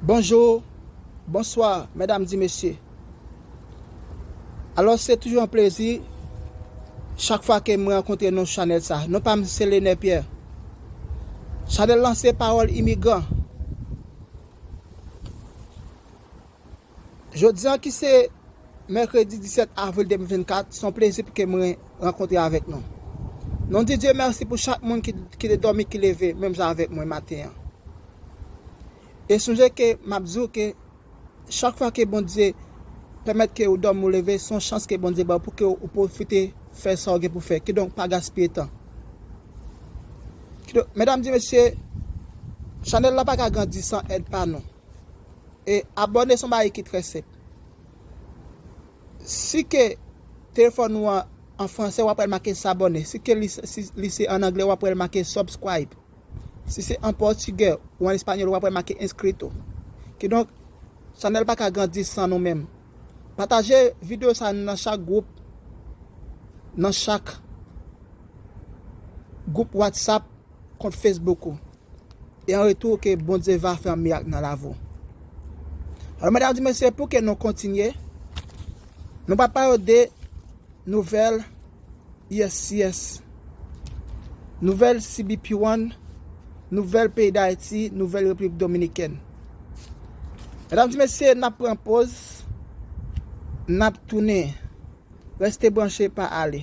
Bonjour, bonsoir mesdames et messieurs alors se toujou yon plezi chak fwa ke mwen rankontre nou chanèl sa, non pam se Lener Pierre chanèl lan se pawòl imigran. Jodi an ki se Mèkredi 17 Avril 2024, se yon plezi pou ke mwen rankontre avèk nou. Nou di Dye mèsi pou chak moun ki te dòmi ki leve menm jan avèk mwen maten an. E sonje ke m'ap di ou ke chak fwa ke Bondye pèmèt ke ou dòmi ou leve, se yon chans ke Bondye ba ou pou ke ou pwofite fè sa ou gen pou fè. Kidonk pa gaspiye tan. Kidonk, medam di mesye, chanèl la pa ka grandi san èd pa nou. E abòne son bagay ki trè senp. Si ke telefòn ou an an fransè wap wèl make s'abonner. Si ke li se an anglè wap wèl make subscribe. Si se an pòtigè ou an espanyòl wap wèl make inscrito. Kidonk chanèl pa ka grandi san nou menm. Pataje video sa nan chak group, nan chak group WhatsApp, kont Facebook ou. E an retou ke Bondye va fè yon mirak nan lavi w. Alò medam ak mesye pou ke nou kontinye, nou va pale w de nouvèl uscis, nouvèl CBP one, nouvèl peyi Dayiti, nouvèl Repiblik Dominikèn. Medam ak mesye nap pran poz, nap tounen. Reste branche pa ale.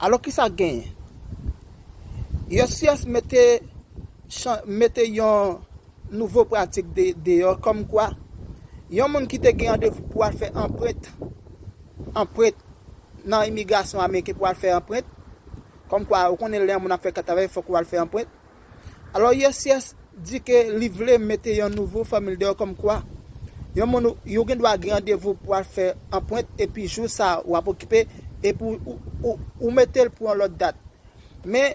Alò kisa k genyen? Uscis mete yon nouvo pratik deyò kòm kwa yon moun ki te gen randevou pou al fè anprent anprent nan imigrasyon ameriken pou al fè anprent kòm kwa ou konnen lè yon moun ap fè travay fòk ou al fè anprent Alò USCIS di ke li vle mete yon nouvo fòmil deyò kòmkwa, yon moun yo gen dwa gen randevou pou al fè anpwent epi jou sa a ou ap okipe epi ou mete l pou yon lòt dat. Men,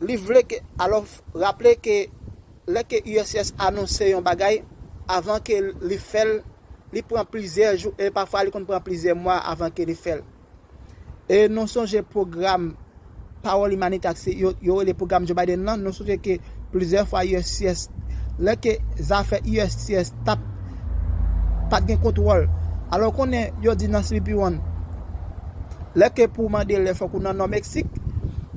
li vle ke, alò raple ke lè ke USCIS anonse yon bagay, avan ke li fè l, li pran plizyè jou e pafwa li konn pran plizyè mwa avan ke li fè l. E nou sonje pwogram Pawòl Imanite ak se yo rele pwogram Joe Biden lan, nou sonje ke plizyè fwa uscis lè ke zafè uscis tap pat gen kontwòl. Alò ou konnen yo di nan CBP One lè ke pou mande lè fòk ou nan Nò Meksik,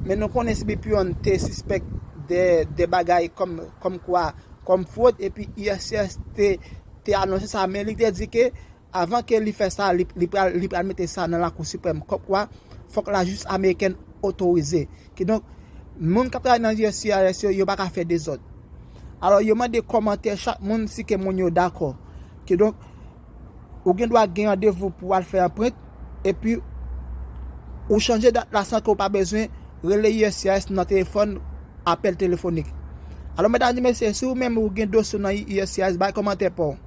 men nou konnen CBP One te sispèk de bagay kòmkwa kòm fwod epi uscis te anonse sa men li te di ke Avan ke li fè sa, li pral li pral mete sa nan Lakou Siprèm kòmkwa fòk lajistis amerikèn otorize. Kidonk, moun k ap travay nan uscis yo, yo pa ka fè dezòd. Alò, yo mande kòmantè chak moun si ke moun yo dakò. Kidonk, ou gen dwa gen randevou pou al fè anprent, epi ou chanje dat la san ke ou pa bezwen rele uscis nan telefòn, apèl telefonik. Alò, medam e mesye, si ou menm ou gen dosye w nan uscis, bay kòmantè pa w.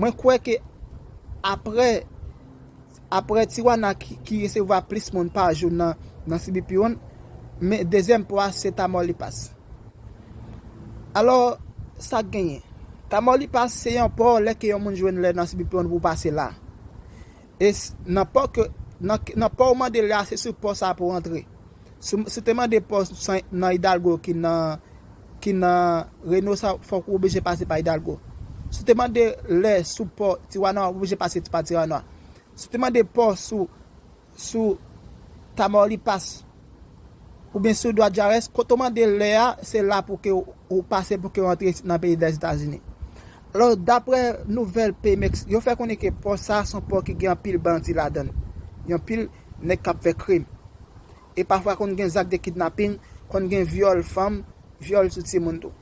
Mwen kwè ke apre apre Tijuana ki resevwa plis moun pa jou nan CBP yon, men dezyèm po a se Tamaulipas. Alò, sa k genyen? Tamaulipas se yon po lè ke yon moun jwenn lè nan CBP yon pou w pase la. E s nan pò ke nan nan pò ou mande la se sou pò sa pou antre. Si si w te mande pò san nan Hidalgo ki nan ki nan Reynosa fòk ou oblije pase pa Hidalgo. Si w te mande lè sou pò Tijuana ou oblije pase pa Tijuana. Si w te mande pò sou sou Tamaulipas oubyen sou Guajarés kote w mande lè a se la pou ke ou pase pou ke w antre nan peyi Lèzetazini. Alò, daprè nouvèl Pemex, yo fè konnen ke pò sa a se yon pò ki gen anpil bandi ladan l, gen anpil nèg k ap fè krim. E pafwa konn gen zak de kidnaping, konn gen vyòl fanm, vyòl sou timoun tou.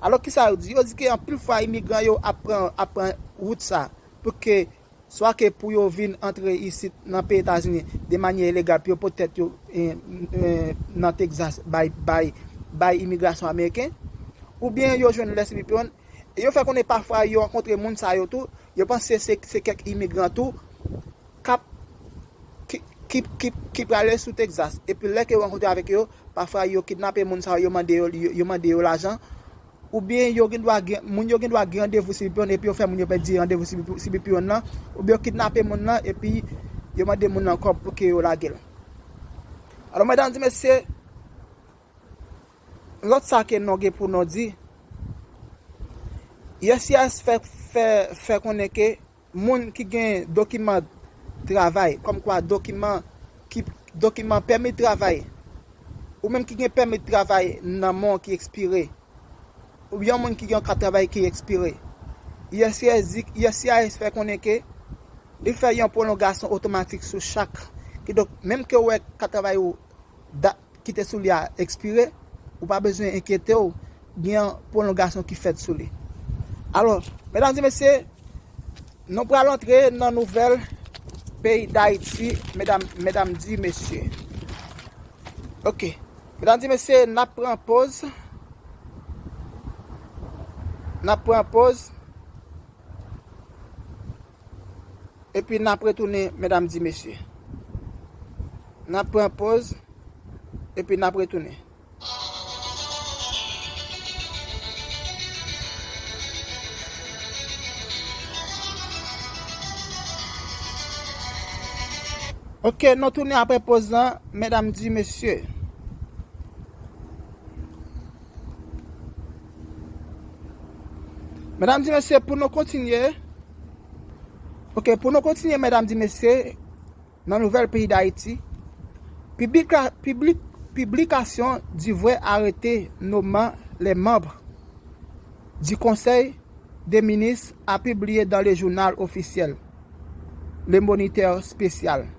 Alò, kisa yo di? Yo di ke anpil fwa imigran yo ap pran wout sa a pou ke swa ke pou yo vin antre isit nan peyi Etazini de manyè ilegal pou yo pot tèt yo nan Texas bay imigrasyon ameriken, oubyen yo jwenn lès epi pran, e yo fè konnen pafwa yo rankontre moun sa yo tou, yo panse se kèk imigran tou kap ki prale sou Texas, epi lè ke yo rankontre avèk yo, pafwa yo kidnape moun sa yo, yo mande yo lajan oubyen yo gendwa gen moun yo gendwa gen randevou cbp one epi yo fè moun yo pèdi randevou cbp one lan, oubyen yo kidnape moun lan epi yo mande moun lan kòb pou ke yo lage l. Alò medam di mesye, lòt sa ke non gen pou non di, uscis fè konnen ke Moun ki gen dokiman travay, kòmkwa dokiman ki dokiman pèmi travay, ou menm ki gen pèmi travay nan men w ki ekspire, oubyen yon moun ki gen yon kat travay ki ekspire, uscis di, uscis fè konnen ke li fè yon pwolongasyon otomatik sou chak, kidonk menm ke ou wè kat travay ou dat ki te sou li a ekspire, ou pa bezwen enkyete w, gen yon pwolongasyon ki fèt sou li. Alò, medam e mesye, nou pral antre nan nouvèl peyi Dayiti, medam, medam di mesye. Ok. Medam di mesye, n ap pran poz. N ap pran poz. Epi nap retounen medam di mesye. Nap pran poz epi nap retounen. Ok nou tounen apre poz lan medam di mesye. Medam di mesye pou nou kontinye Ok pou nou kontinye medam di mesye nan nouvèl peyi dayiti Piblikasyon Duvray arete noman lè manb di konsèy de minis a pibliye dan le jounal ofisyèl Le Moniteur Spécial.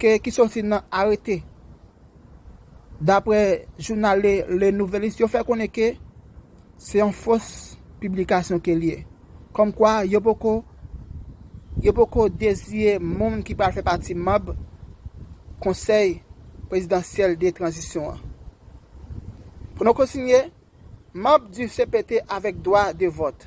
ke ki soti nan arete dapre jounal Le Nouvelliste yo fè konnen ke se yon fos piblikasyon ke li ye kòm kwa yo poko yo poko deziye moun ki pral fè pati manb konsèy prezidansyèl de tranzisyon an. Pou nou kontinye, manb du cpt avèk dwa de vòt.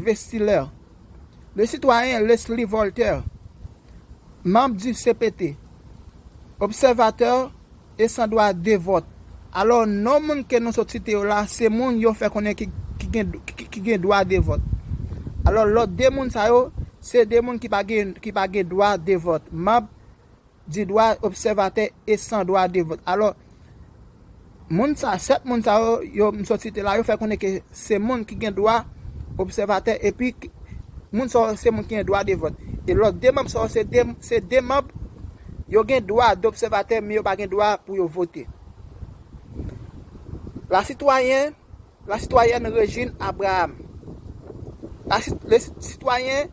Vestiller, le sitwayen Leslie Voltaire, manb di cpt, obsèvatè e san dwa de vòt. Alò, non moun ke nou sot site yo la, se moun yo fè konnen ki gen dwa de vòt. Alò, lòt de moun sa yo, se de moun ki pa gen dwa de vòt, manb di dwa obsèvatè e san dwa de vòt. Alò, moun sa, 7 moun sa yo, yo m sot site la, yo fè konnen ke se moun ki gen dwa obsèvatè epi moun sa yo se moun ki gen dwa de vòt. E lòt 2 manb sa yo se 2, se 2 manb, yo gen dwa dobsèvatè men yo pa gen dwa pou yo vote. La sitwayen, la sitwayèn Régine Abraham. La si, le sitwayen.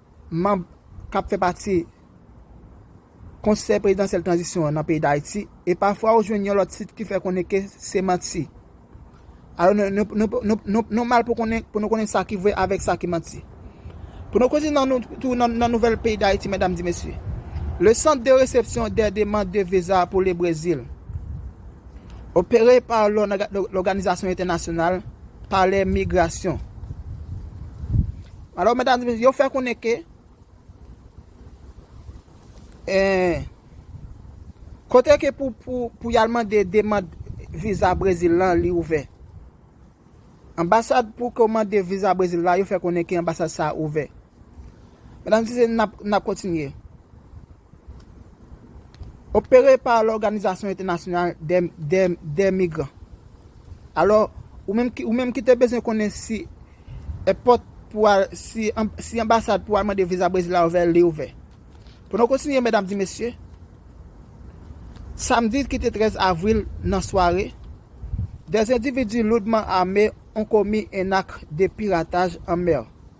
Manb k ap fè pati Konsèy Prezidansyèl Tranzisyon an nan peyi Dayiti e pafwa ou jwenn yon lòt sit ki fè konnen ke se manti. Alò nou mal pou nou konnen sa ki vre avèk sa ki manti. Pou nou kontinye tou nan nouvèl peyi Dayiti medam di mesye. Le Centre de Réception des Demandes de Visa pour le Brésil opere pa lòganizasyon entènasyonal Palè Migrasyon. Alò medam e mesye yo fè konnen ke kote ke pou yal mande demand viza Brezil lan li ouvè. Anbasad pou ke w mande viza Brezil la yo fè konnen ke anbasad sa ouvè. Medam e mesye nap kontinye. Opere pa lòganizasyon entènasyonal dè migran. Alò, ou menm ki te bezwen konnen si èpòt pou al, si anbasad pou al mande viza Brezil la ouvè, li ouvè. Pou nou kontinye medam di mesye, samdi ki te 13 avril nan sware, dè endividi loudman ame on komi en ak de pirataj an mè.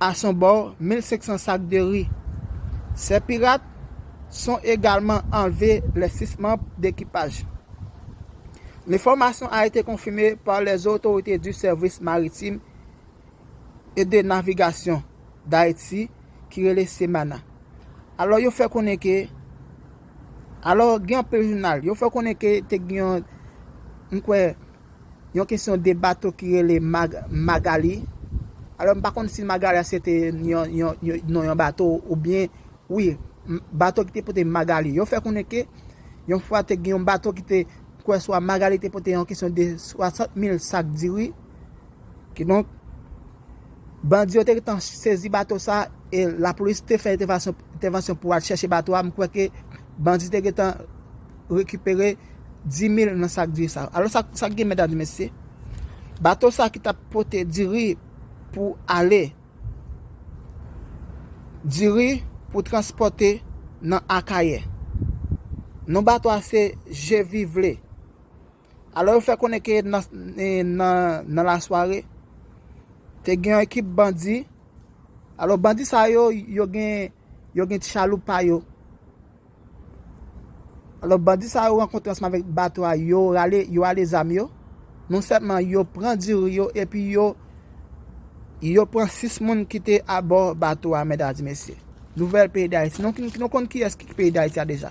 A son bò 1500 sak de ri. Sè pirat son egalman anlve lè 6 manb dekipaj. Lenfòmasyon a ete konfime pa lè otorite di sèvis maritim e de navigasyon Dayiti ki rele Semana. Alò yo fè konnen ke alò gen anpil jounal yo fè konnen ke te gen yon m kwè. Yon kesyon de bato ki rele Magali. Alò m pa konn si Magali a se te non yon bato oubyen. Wi, bato ki te pote Magali. Yo fè konnen ke yon fwa te gen yon bato ki te kwè swa Magali te pote yon kesyon de 60 mil sak diri. Kidonk. Bandi yo te gentan sezi bato sa e lapolis te fè entèvansyon pou al chèche bato a, m kwè ke bandi te gentan rekipere 10 mil nan sak diri sa. Alò sa k gen medam e mesye? Bato sa ki t ap pote diri pou ale, diri pou transpòte nan Akayè. Non bato a se Je Vivre. Alò yo fè konnen ke nan lasware, te gen yon ekip bandi, alò bandi sa yo, yo gen yo gen ti chaloup pa yo, alò bandi sa yo rankontre ansanm avèk bato a, yo rale, yo ale zam yo, non sèlman yo pran diri yo epi yo yo pran 6 moun ki te abò bato a mèdadi mesye. Nouvèl peyi Dayiti, nou konn kiyès ki peyi Dayiti a deja.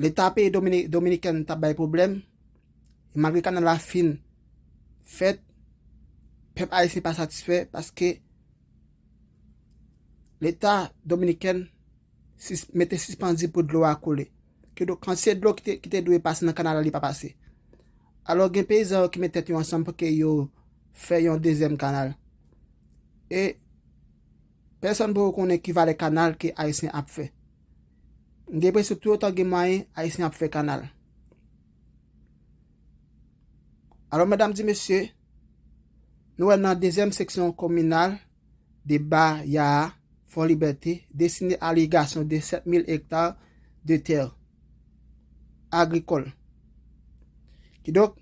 Leta peyi Dominiken tap bay pwoblèm, e malgre kanal la fin fèt, pèp ayisyen pa satisfè paske Leta Dominiken mete sispanzi pou dlo a koule. Ki do kantite dlo ki te dwe pase nan kanal la li pa pase. Alò gen peyizan yo ki met tèt yo ansanm pou ke yo fè yon dezyèm kanal. E Pèsòn poko konnen ki valè kanal ke Ayisyen ap fè. M gen enpresyon tou otan gen mwayen, Ayisyen ap fè kanal. Alò medam di mesye, nou wè nan dezyèm seksyon kominal de Ba Ya a, Fò Libète, destine a l'irrigation de 7.000 hectares de terres agricoles. Kidonk,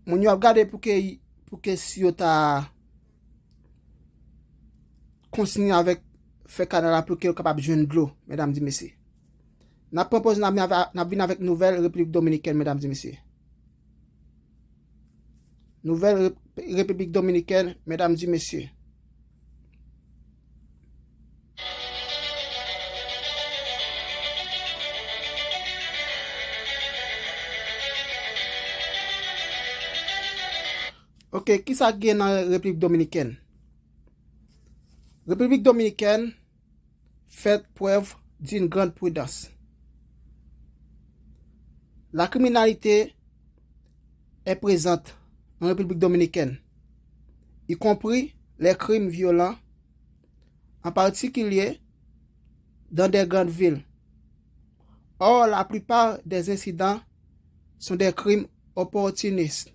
moun yo ap gade pou ke, pou ke si yo ta kontinye avèk fè kanal la pou ke yo kapab jwenn dlo, mèdam di mesye. Nap pran pòz nap vin avèk nouvèl Repiblik Dominikèn, mèdam di mesye. Nouvèl Repiblik Dominikèn, mèdam di mesye. Ok, kisa k gen nan Repiblik Dominikèn? Repiblik Dominikèn fèt prèv d'une grande prudence. La kriminalite e prezant nan Repiblik Dominikèn, y konpri lè krim vyolan, an patikilye dan dè grand vil. Or, la plupart dè ensidan son dè krim opportunistes.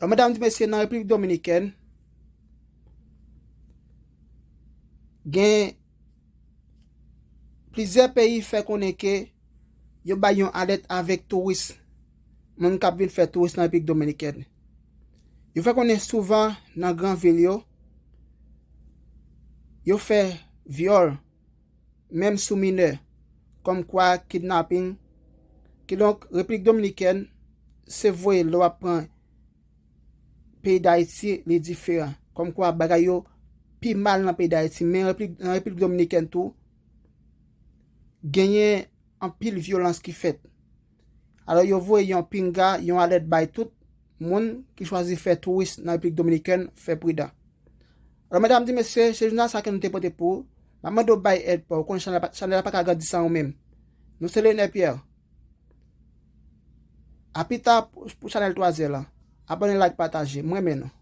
Lò medam di mesye nan Repiblik Dominikèn gen plizyè peyi fè konnen ke yo bay yon alèt avèk touris moun kap vin fè touris nan Repiblik Dominikèn. Yo fè konnen souvan nan gran vil yo yo fè vyòl. menm sou minè, kòmkwa kidnaping, kidonk Repiblik Dominikèn se voye lè w ap pran peyi Dayiti li diferan, kòmkwa bagay yo pi mal nan peyi Dayiti men nan Repiblik Dominikèn tou genyen anpil vyolans ki fèt. Alò yo voye yon pinga, yon alèt bay tout Moun ki chwazi fè touris nan Repiblik Dominikèn fè pridan. Alò medam di mesye, se jounal sa ke nou te pote pou ou, map mande ou bay èd paw, ou konnen chanèl la chanèl la paka grandi san ou menm. Nou se Leonel Pierre. A pita pou chanèl 3 zè lan. Abone like pataje. M renmen nou.